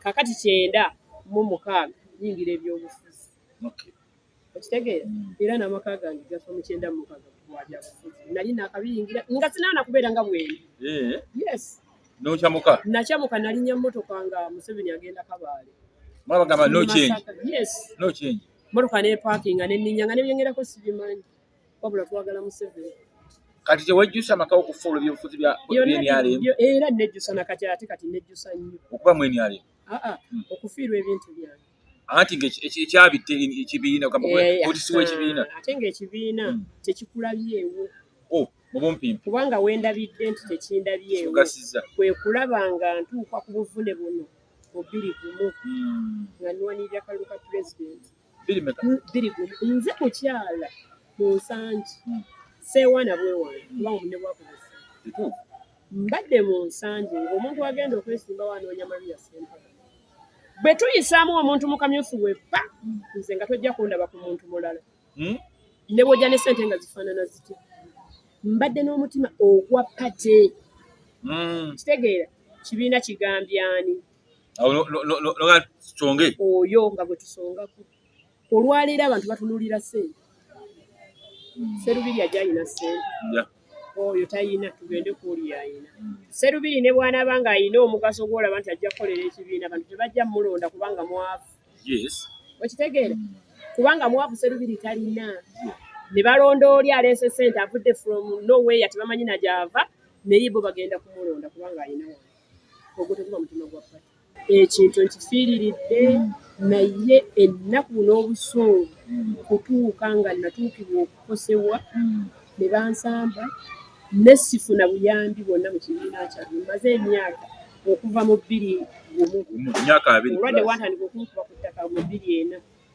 kakati kyenda mu mukaaga yingira ebyobufuzi okitegeera mm. era n'amaka gange gafa mu kyenda mu mukaaga wabyabufuzi nali nakabiyingira nga sinaana kubeera nga bwene eh. yes nokyamuka nakyamuka nalinya motoka nga museveni agenda kabaale mwabagamba no change yes no change motoka nepakinga neninya nga nebyengerako sibimanyi wabula twagala museveni kati tewejjusa amakawo okufuula ebyobufuzi byenrm era nejjusa nakati ate kati nejjusa nnyo okuba mu nrm hmm. okufiirwa ebintu byange anti ngekyabitte ekibiina otisiwa eh, ekibiina ah, ate ngaekibiina hmm. tekikulabyewo oh, mubumpimpi kubanga wendabidde nti tekindabyewo kwe kulaba nga ntuuka ku buvune buno obiri gumu hmm. nga nwanirira kalulu ka pulezidenti biri gumu nze mukyala munsangi hmm. seewaana bwewaana kuba omune bwakubusa mbadde mu nsangi ngaomuntu agenda okwesimbawo anoonya maria sempala bwe tuyisaamu omuntu mu kamyufu weppa nze nga tojja kundaba ku muntu mulala hmm? ne bwojja ne sente nga zifaanana ziti mbadde n'omutima ogwa pate hmm. kitegeera kibiina kigambye ani oyo nga gwe tusongako olwaleero abantu batunulira sente hmm. serubiri ajayina sente oyo tayina tugende kuoli yayina hmm. serubiri ne bwanaba nga ayina omugaso gwolaba nti ajja kukolera ekibiina abantu tebajja mulonda kubanga mwavu okitegeera hmm. kubanga mwavu serubiri talina ne balonda oli aleese sente avudde from nowhere tebamanyi najaava naye bo bagenda kumulonda kubanga ayina ogwo teguba mutima gwa pati ekintu nkifiiriridde naye ennaku n'obusungu kutuuka nga natuukibwa okukosebwa ne bansamba nesifuna buyambi bwonna mu kibiina kyange maze emyaka okuva mu bbiri gumu olwadde watandika okunkuba ku ttaka mu bbiri ena